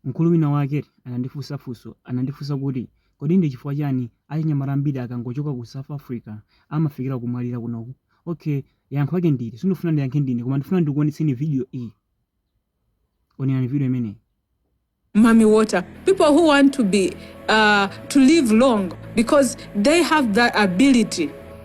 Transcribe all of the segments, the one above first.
Mkulu wina wake anandifunsa funso, anandifunsa kuti, Kodi ndi chifukwa chani achinyamata ambiri akangochoka ku South Africa amafikira kumwalira kunoku? Ok, yankho lake ndi ili, sindifuna ndiyankhe ndine koma ndifuna ndikuonetseni video iyi. Onerani video imeneyi. mami water people who want to be uh, to live long because they have that ability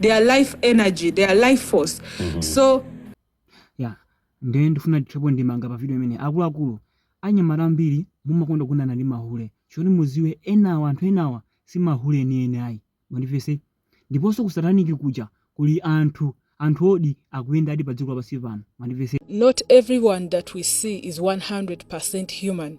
their life energy their life force so ya ndiye ndifuna ndithirepo ndemanga pa video imeneyi akuluakulu anyamata ambiri mumakonda kugonana ndi mahule choti muziwe enawa anthu enawa si mahule enieni ayi mwandimvetsa ndiponso kusataniki kuja kuli anthu anthu oti akuyenda ali pa dziko lapansi pano mwandimvetsa not everyone that we see is 100% human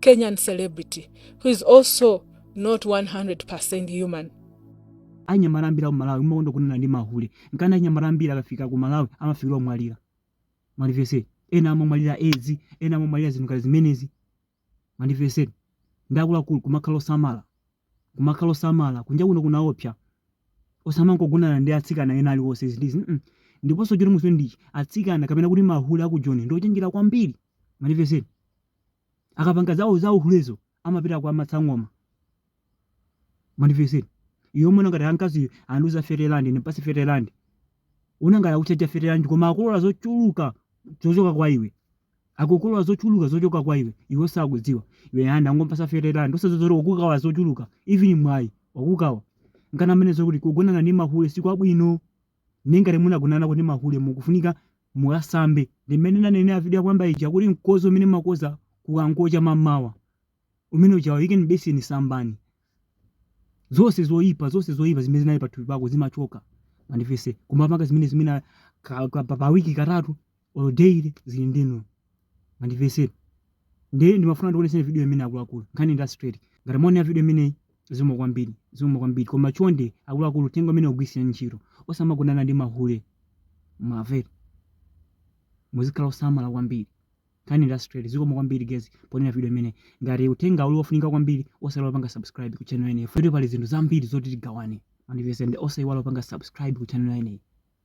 Kenyan celebrity who is also not 100% human. anyamata ambiri aku malawi mumakonda kugonana ndi mahule nkana anyamata ambiri akafika ku malawi amafikira kumwalira mwandimvetsa eti ena amamwalira edzi ena amamwalira zinthu ngati zimenezi mwandimvetsa eti ndiye akuluakulu kumakhala osamala kumakhala osamala kunja kuno kunaopsa osamangogonana ndi atsikana ena aliwonse zindizi mm. ndiponso choti muziwe ndichi atsikana kapena kuti mahule aku joni ndi ochenjera kwambiri mwandimvetsa eti akapanga zawo za uhulezo amapita kwa masangoma mwandimvetsa eti iwe umaona ngati amkazi andiuza thirty rand ndipatse thirty rand uona ngati akuchaja thirty rand koma akukolola zochuluka zochoka kwa iwe akukolola zochuluka zochoka kwa iwe iwe usakudziwa iwe aa ndangompasa thirty rand osaziwa zoti wakukawa zochuluka even mwayi wakukawa nkana amanena zokuti kugonana ndi mahule sikwabwino Ndiye ngati munagonanako ndi mahule mukufunika mukasambe. Ndi mmene ndanenera video yapoyamba ija kuti mkozo umene mumakoza kukangocha mammawa umene ujawo ikeni m'beseni sambani. Zonse zoyipa, zonse zoyipa zimene zinali pathupi pako zimachoka. Mwandimvetsa kumapanga zimenezi mwina ka, ka, pa, pa wiki katatu olo daily zili ndi inuyo mwandimvetsa eti ndiye ndimafuna ndikuonetseni video imeneyi akuluakulu nkhani ndi straight ngati mwaonera video imeneyi zikomo kwambiri zikomo kwambiri koma chonde akuluakulu uthenga umenewu ugwiritseni ntchito osamagonana ndi mahule mwamvera muzikhala osamala kwambiri nkhani ndi straight zikomo kwambiri guys poonera video imeneyi ngati uthenga uli wofunika kwambiri osaiwala kupanga subscribe ku channel imeneyi futi pali zinthu zambiri zoti tigawane mwandimvetsa eti ndiye osaiwala kupanga subscribe ku channel imeneyi